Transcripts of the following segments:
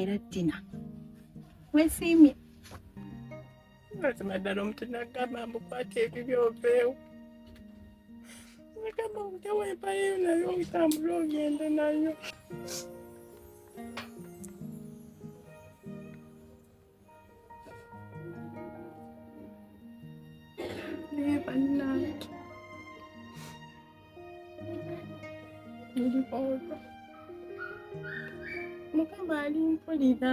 era tina wesiimye mazima ddala omuntu nagamba mbukwata ebibi oveewo nagamba omujawo empayeyo nayo otambule ogende nayo naye bannange ndibooba mukama ali mpulira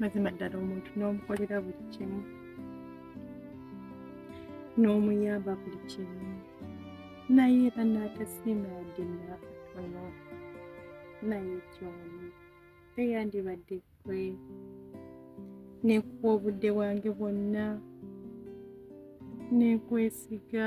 mazima ddala omuntu n'omukolera buli kimu n'omuyamba buli kimu naye era n'atasiima yadde nakatono naye kyoni teyandibadde kwe nekuwa obudde bwange bwonna nekwesiga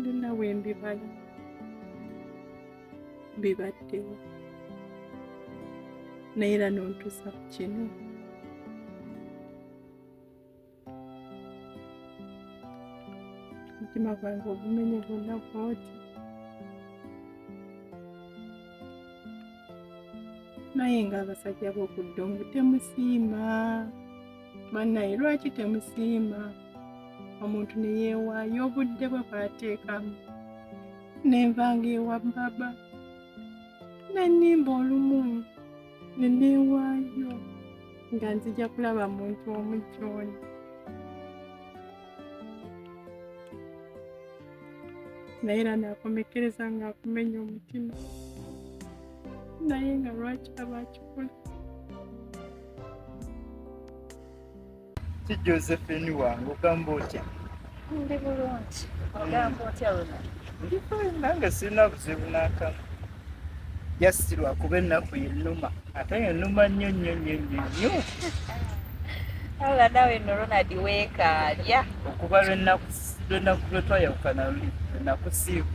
byonna bwe mbimanya bibaddewo naye era nontuusa ku kino omutima gwange ogumenye gwonna gwoti naye nga abasajja b'okudda omu temusiima Bannaye lwaki temusiima omuntu ne yeewaayo obudde bwe bwateekamu ne nvanga ewa baba ne nnimba olumu ne neewaayo nga nzija kulaba muntu omu gy'oli naye era nakomekkereza ng'akumenya omutima naye nga lwaki aba akikola ki josephine wange ogamba otya ndi bulungi ogamba otya luna nange sirina buzibu nakamu just lwakuba ennaku yenuma ate yenuma nnyo nnyo nnyo nnyo nnyo ala nawe no ronald weekaalya okuba lwenaku lwetwayawukana luli lwenakusiibu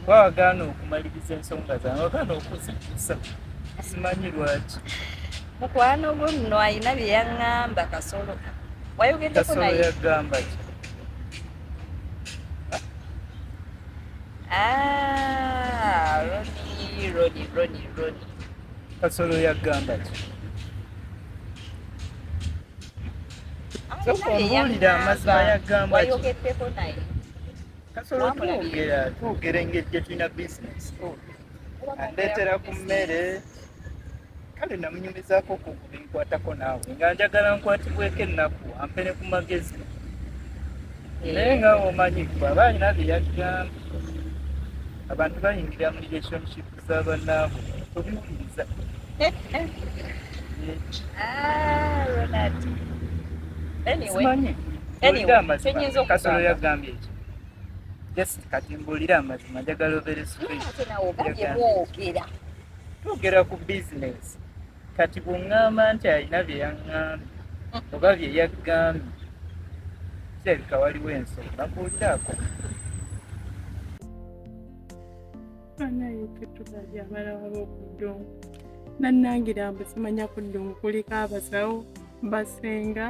wawagaana okumaliriza ensonga zange wagaana okuzijjusa simanyi lwaki mukwano gwe muno alina bye yaŋŋamba kasolo wayogeddeko naye yagamba ki ah, roni roni roni roni kasolo yagamba ki tokumbuulira amazima yagamba wayogeddeko naye kasolo twogera twogera engeri gye tulina bizinesi andeetera ku mmere kale namunyumizaako ku binkwatako naawe nga njagala nkwatibweko ennaku ampere ku magezi eh. naye nga omanyi bwaba alina bye yagamba abantu bayingira mu relationship Zabanangu tubikiriza kasolo yagambye ekyo just kati mbuulira amazima njagala obere twogera ku business kati bwongamba nti alina byeyaŋambye mm. oba byeyagambye kirabika waliwo ensonga mbuulirako banaye tetulabye abala waba okuddongo nannangira mbu simanya ku ddongo kuliko abasawo basenga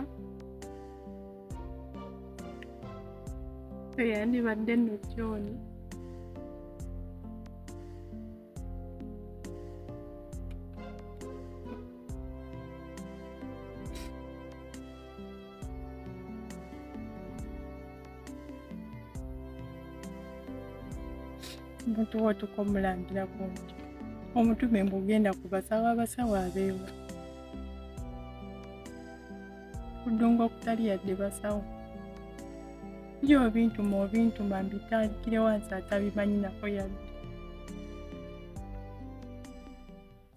eyandibadde no kyoni omuntu wotuka omulangira ku nti omutume mbu ogenda kubasawo abasawo abeewa kudunga okutali yadde basawo biri obintuma obintuma mbitandikire wansi atabimanyi nako yadde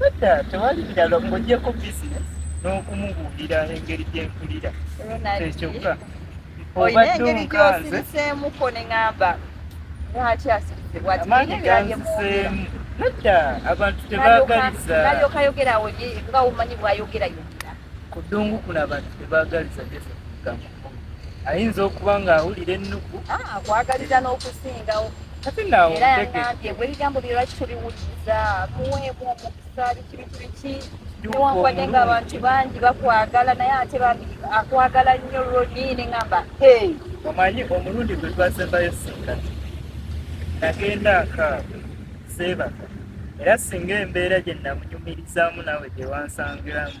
Nedda, tewali birala ng'ogyeko business n'okumubuulira engeri gye mpulira. Kyekyokka. Olina engeri gy'osiriseemuko ne ŋamba lwaki asirise bwati. Amaanyi ganziseemu. Nedda, abantu tebaagaliza. Nalyoka yogerawo ye nga omanyi bw'ayogera yogera. Ku ddungu kuno abantu tebaagaliza Josephine Kamoga. ayinza okuba ng'awulira ennugu ah, akwagaliza n'okusingawo kati naawo era yagambye gwe ebigambo bye lwaki tobiwuliriza muweemu omukisa biki biki biki newankubadde ng'abantu bangi bakwagala naye ate bambi akwagala nnyo lwoni ne ŋamba omanyi omulundi gwe twasembayo sinkati nagenda akaabo seebaka era singa embeera gye namunyumirizaamu naawe gye wansangiramu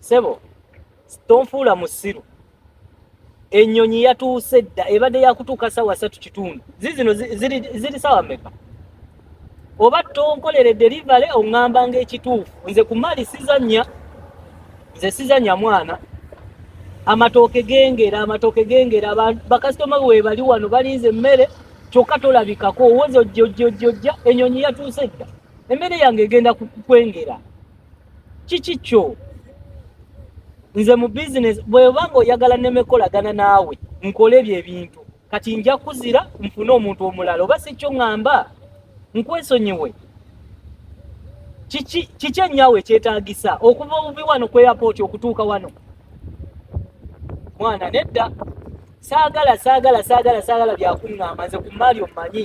sebo tonfuula musiru enyonyi yatuuse dda ebadde yakutuuka sawa satu kitundu zizino ziri sawa meka oba tonkolere delivery oŋŋamba nga ekituufu nze ku mali sizanya nze sizanya mwana amatooke gengera amatooke gengera bakasitoma webali wano balinze emmere kyokka tolabikako owoza ojja ojja ojja ojja enyonyi yatuuse dda emmere yange egenda kukwengera kiki kyo nze mu bizinesi bweba nga oyagala nemekolagana naawe nkole ebyo ebintu kati nja kuzira nfune omuntu omulala oba si kyo ŋŋamba nkwesonyiwe kiki ennyawo ekyetaagisa okuva obubi wano ku eyapooti okutuuka wano mwana nedda saagala saagala saagala saagala byakuŋŋamba nze ku maali omumanyi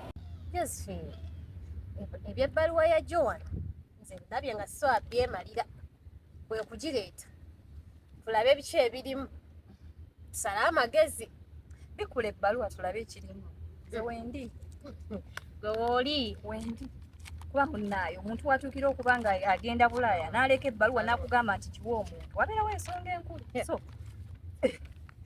Josephine, eb- eby'ebbaluwa ya Joan nze ndabye nga so abyemalira kwe kugireeta tulabe biki ebirimu tusale amagezi bikula ebbaluwa tulabe ekirimu nze wendi gwe wooli wendi kuba munnaayo omuntu watuukira okuba nga agenda bulaaya n'aleka ebbaluwa n'akugamba nti kiwa omuntu wabeerawo ensonga enkulu so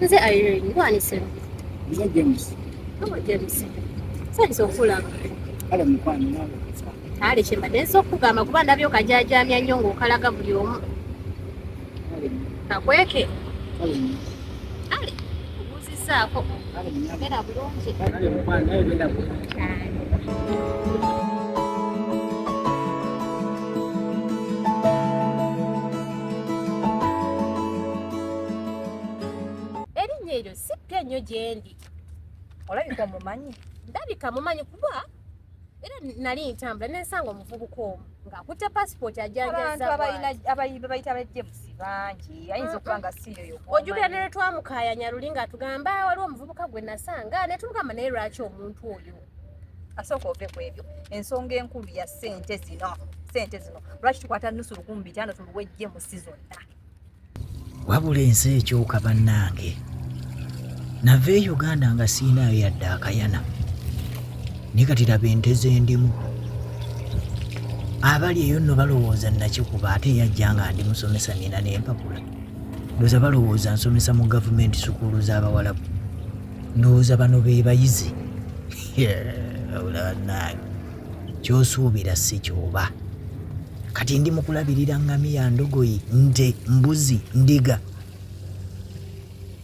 nze irene gwanisero nze james obo james sanyisa okulaba kale mukwano nawe kale kyembadde nsi okugamba kuba ndabye okajajamya nnyo ngaokalaga buli omu kakweke kale saako era bulungi erinnya eryo si ppya nnyo gyendi olabika omumanyi ndabika mumanyi kuba era nali ntambula nensanga omuvubuka omu ng'akutte pasipooti ajanjazabayita abajemusi bangi ayinza okuba nga siyoyo ojukira ne lwetwamukayanya luli ng'atugamba ah, waliwo omuvubuka gwe nasanga ne tumugamba naye lwaki omuntu oyo asooka ove ku ebyo ensonga enkulu ya sente zino sente zino lwaki tukwata nusu lukumi bitaano tuluwejje mu sizonna wabula ensi ekyuka bannange nava e uganda nga siinayo yadde akayana naye kati laba ente zendimu abali eyo nno balowooza nakikuba ate yajja nga ndi musomesa nina nempapula ndowooza balowooza nsomesa mu gavumenti sukuulu z'abawalabu ndowooza bano be bayizi yeah, kyosuubira si kyoba kati ndi mukulabirira ngamiya ndogoyi nte mbuzi ndiga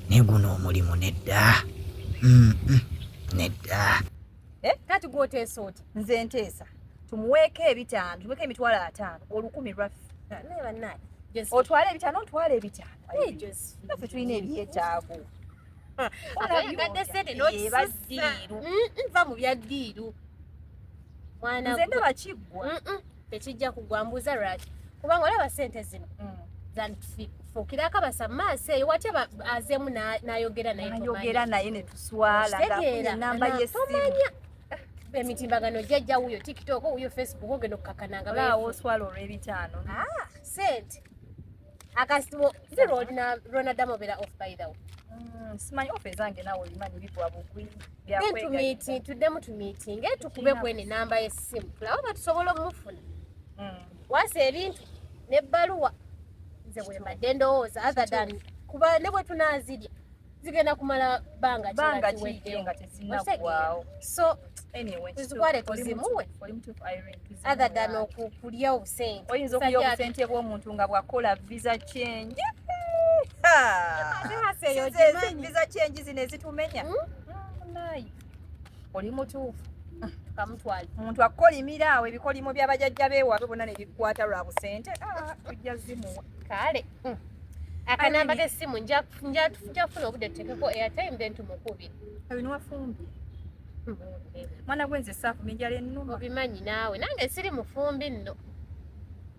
naye guno omulimu nedda mm, mm, nedda eh, kati gwoteesa oti nze nteesa tumuweeko ebitaano tumuweeko emitwalo ataano olukumi lwaffe naye banaye otwala ebitano ntwala ebitano ffe tulina ebyetaago oyagadde sente nokisasiiru nva mu bya ddiiru nze ndaba kiggwa tekijja kugwa mbuuza lwaki kubanga olaba sente zino mm. zanfuukirako abasa mu maaso eyo wati azeemu nayogera nayeyogera naye netuswalanamba yesitomanya emitimbagano jajja wuyo tiktok wuyo facebook ogenda okukakananga baawo oswala olw'ebitaano ah, sente akasiwo si lwonaddamu obeera off by the way mm, simanyi ofe ezange nawe olimanyi bigwa bugwi byakwegayita tuddemu tumiitinge tukube kwene namba y'essimu tulabe oba tusobola omufuna mm. wasa ebintu n'ebbaluwa nze bwembadde ndowooza other than kuba ne bwe tunaazirya zigenda kumala banga banga kiwedde nga tezinagwawo so anyway tuzitwale tuzimuwe other than okulya obusente oyinza okulya obusente bw'omuntu nga bwakola visa change visa change zino ezitumenya hmm? oli mutuufu kamutwale omuntu akukolimira awo ebikolimo byabajajja bewaabwe bonna nebikwata lwa busente ah, tujja zimuwa kale mm. akanamba kesimu njafuna obudde tutekeko airtime then tumukubi abinwafumbi hmm. mwana gwenze saafu minjala ennuma obimanyi naawe nange siri mufumbi nno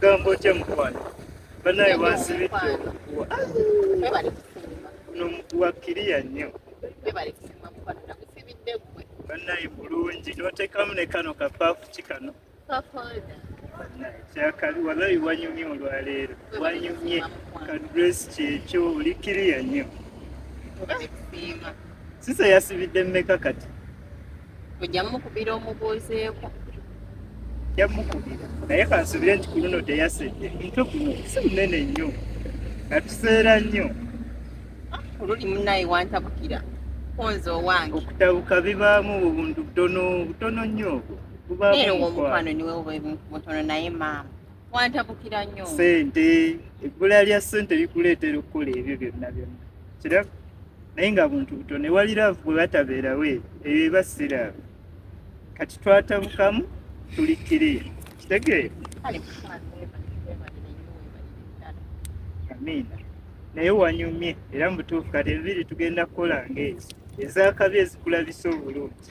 Gambo kye mukwano banaye wansibidde omuguwa nomuguwa kiriya nnyo banaye bulungi notekamu ne kano kapafu ki kano kyakali walayi wanyumye olwaleero wanyumye kadress kyekyo oli kiriya nnyo sisa yasibidde mmeka kati ojja mukubira omubuuzeeko yamukubira naye kansubire nti kuluno teyasedde mutwe guno si munene nnyo atuseera nnyo ah, oluli munaye wantabukira konza owange okutabuka bibaamu obuntu butono butono nnyo obwo era owomukwano niwe oba mutono naye maama wantabukira nnyo sente ebbula lya sente likuleetera okukola ebyo byonna byonna kiraba naye nga buntu buto newali laavu bwe batabeerawo ebyo eba siraavu kati twatabukamu tulikire kitegeera amiina naye wanyumye era mubutuufu kati enviiri tugenda kukola ngaezo ezakabi ezikulabisa obulungi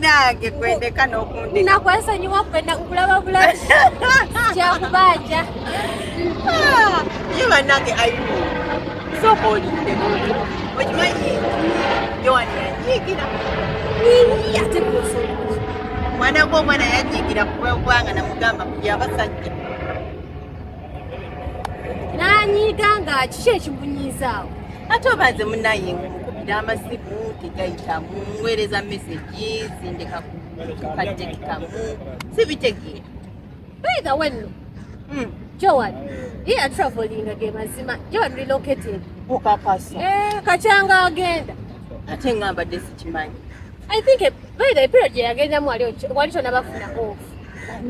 nange kwendeka nokundi nakwesonyiwa kwenda kulaba bulabi kyakubanja ah, ye banange ayu soka olinde okimanyi yowani yanyigira ate mwana gwomwana yanyigira kubagwanga namugamba kuli abasajja nanyiiga nga kiki ekimunyiizaawo ate oba nze munaye mukubira amasimu tegayitamu muweereza mesegi zindeka kukatekikamu sibitegeera bwega wenno hmm. joan ye atravolinga ge mazima joan relocated okakasa eh, kachanga agenda ate ngambadde sikimanyi I think eh, by the period gye yagendamu wali wali tonabafuna off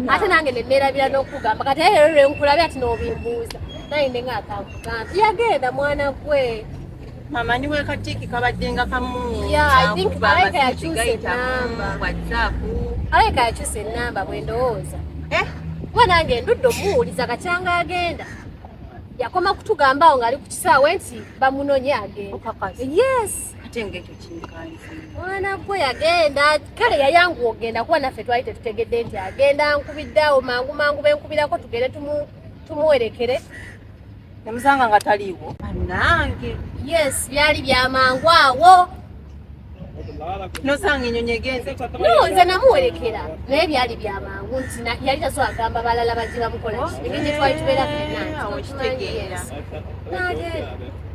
ate nange ne neerabira n'okugamba kati aye leero lwe nkulabe ati n'obimbuuza naye nde ng'akamugamba yagenda mwana gwe mama niwe katiki kabadde nga kamu Yeah, I think kakuba Malaika amasimu yakyusa tegayita ennamba. mu whatsapp alabika yakyusa ennamba bwe ndowooza Eh, kuba nange ndudde omuwuliza kakyanga agenda yakoma kutugambaawo ng'ali ku kisaawe nti bamunonye agenda okakasa yes ate ngeke mwana gwe yagenda kale yayangu ogenda kuba naffe twali tetutegedde nti agenda nkubidde awo mangu mangu benkubirako tugende tumuwerekere nemusanga nga taliiwo nange yes byali byamangu awo nosanga enyonyi egenze no nze namuwerekera naye byali byamangu nti yali taso agamba balala baje bamukola ebintu twali tubeera fenanti okitegeera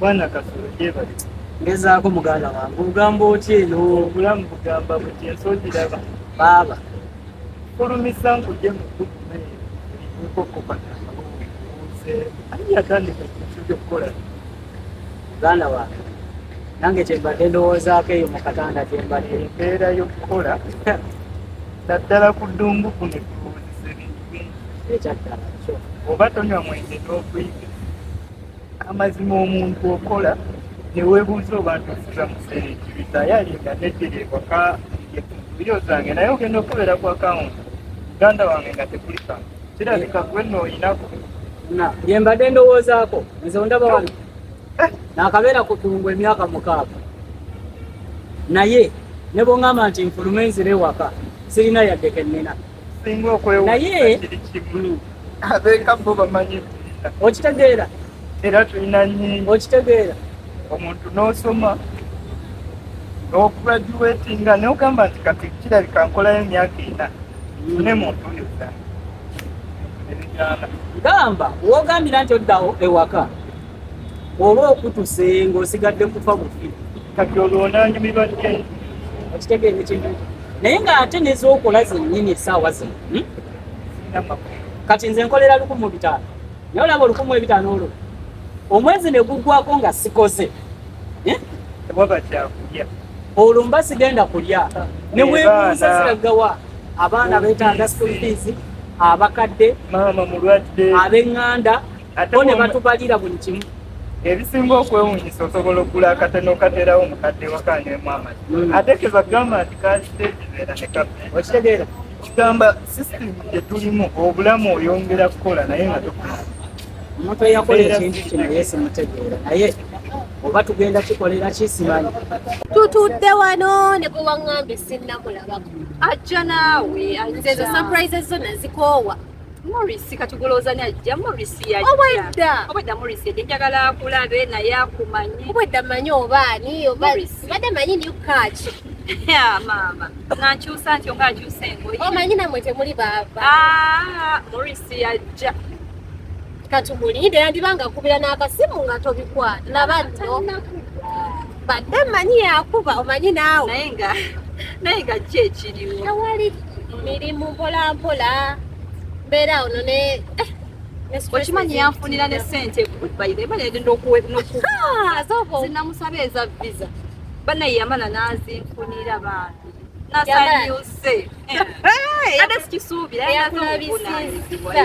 bwana kasolo gyebali ngezaako muganda wange ogamba otya eno obulamu bugamba buti ensogiraba baaba kulumisa nkuje mukukume ekokopataauze ani yatandika kintu kyokukola muganda wange nange kyembadde ndowoozaako eyo mukatanda gyembadde embeera yokukola naddala ku ddungu kuno ekyaddala kyo oba tonywa mwenge n'okuyiga amazima omuntu okola newebuuza oba ntusiza museera ekibita yalinga neddira ewaka eyo zange naye ogenda okubeera ku akawunti muganda wange nga tekulika kirabika gwe nooyinako bye mbadde ndowoozaako nze ondaba wano eh. nakabeera ku kulungu emyaka mukaaga naye ne bwongamba nti nfulume nzire ewaka sirina yadde kennina singa okwewuunaye mm. abeeka bo bamanyi okitegeera era tulina nyingi okitegeera omuntu n'osoma okugraduatinga nogamba nti kati kirabika nkolayo emyaka ena mm. ne muntu yonna gamba wogambira nti oddawo ewaka oba okutuse ng'osigadde kufa bufi kati olwo onanyumirwa nti okitegeera ekintu naye ng'ate nezokola zennyini esaawa zino hmm? kati nze nkolera lukumu bitaano naye olaba olukumu ebitaano olwo omwezi ne guggwako nga sikoze eh? olwo mba sigenda kulya ne webuuza ziragawa abaana betaaga school fees abakadde abenganda bo ne batubalira buli kimu ebisinga okwewunyisa osobola okugula akatene okaterawo omukadde wakanywemu amazi hmm. ate kebagamba nti kasitekibeera ne kafe okitegeera kigamba sisitimu gyetulimu obulamu oyongera kukola naye nga tokula omuntu eyakola ekintu kino yesimutegeera naye oba tugenda kikolera kisimanyi tutudde wano ne bwe waŋŋambye sinnamulabako ajja naawe nze ezo surprises zonna zikoowa Morris kati gulowooza ni ajja Morris yajja obwedda obwedda Morris yajja njagala akulabe naye akumanye obwedda manyi oba ani oba badde manyi ni kaaki maama nankyusa ntyo nga akyusa engoye omanyi oh, namwe temuli baaba ah, Morris yajja katubulire yandiba nga kubira n'akasimu nga tobikwata nabano badde manyi yakuba omanyi naawe naye nga naye nga ki ekiriwo tewali mirimu mpolampola mbeera ono ne eh, okimanyi yanfunira ne sente bayirebayagendaokuwenamusaba eza visa banaye yamala nazinfunira bambi nasanyuse eh. ate sikisuubira yaaabisiza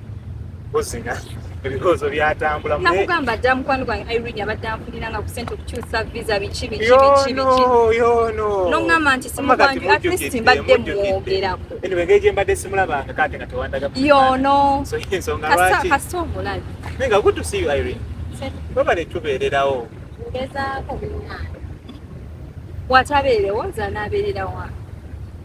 buzina ebirowoozo byatambula nakugamba dda mukwano gwange irene abadde anfunira nga ku sente okukyusa visa biki bikibikibikinongamba nti simukwanju at least mbadde mwogerako anyway ngeri gyembadde simulabanga kate nga tewandaga yono ensonga lwaki kasita omulabi naye nga good to see you irene babale tubeererawo ngezaako binaani watabeerewo nze anaabeererawo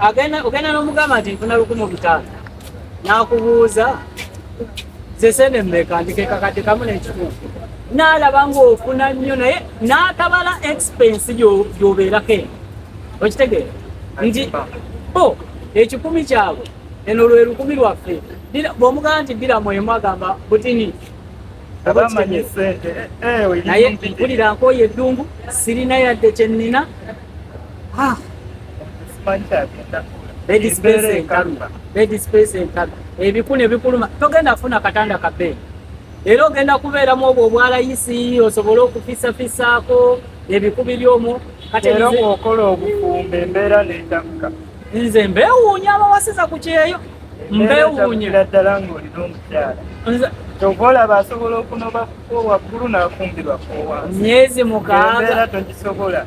agenda ogenda n'omugamba nti nfuna lukumu bitaano n'akubuuza zesene mmeka nti kekakadde kamu n'ekitundu n'alaba ng'ofuna nnyo naye n'atabala expense gy'obeerako eno okitegeera nti bo ekikumi kyabwe eno lwe lukumi lwaffe bw'omugamba nti ddira mwemu agamba butini naye mpulira nkooye eddungu sirina yadde kye nnina ebikulu ebikuluma togenda kufuna katanda kabeeyi era ogenda kubeeramu obwo obwalayisi osobole okufisafisaako ebikubi byomu okola obufumbo embeera netamka nze mbewuunya abawasiza ku kyeyo mbewuunyira ddala ngaolina omukyala kyova olaba asobola okunoba kuko waggulu nafumbirwa kowa myezi mukaaga togisobola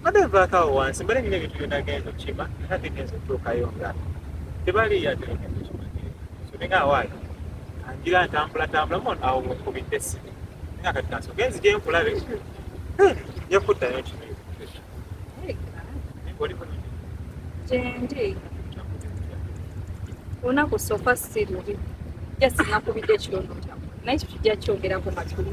mbadde nvaako awo wansi mbadde nina ebintu byona genda okima era bigenza okutuukayo nga tebali yadeekimanyisoninga awaayo anjira ntambulatambula mon awo wenkubidde sibi nga kati kansi ogenzi gyenkulabe yakuddayo kino gyendi olunaku sofa si lubi just nakubidde ekirondo kyamu naye kyo kijja kyogerako matuli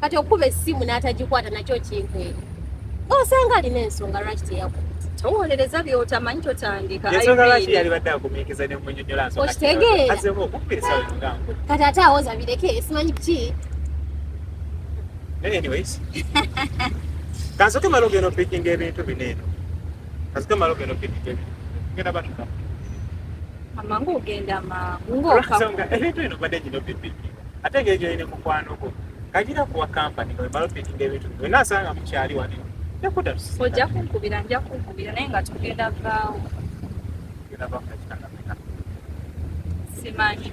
kati okuba essimu n'atagikwata nakyo kinkwere osanga alina ensonga lwaki teyakuba towolereza byotamanyi totandikaokitegeerakati ate awoza bireke simanyi ki kansoke mala ogenda opikinga ebintu bineeno kasita malo gano kididde tugenda batuka amangu ogenda mangu ng'okansonga ebintu bino badde gino bibiki ate ngeri gyolina mukwano gwo kagira kuwa kampani nga wemala opikinga ebintu bino wena asanga mukyali wani nekuda ojja kunkubira nja kunkubira naye nga tugenda vaawo simanyi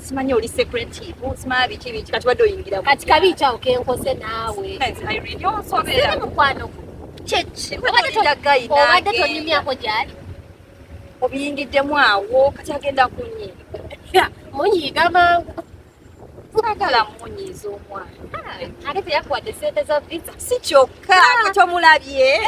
simanyi oli secretive simanyi biki biki kati wadde oyingira kati kabi kyawo kenkoze naawe siri mukwano kyekibadde tonyumyako gyali obiyingiddemu awo kati agenda kunyi munyiiga mangu twagala munyiiza omwana ah, ate teyakuwadde sente za visa si kyokka ah. kati omulabye eh.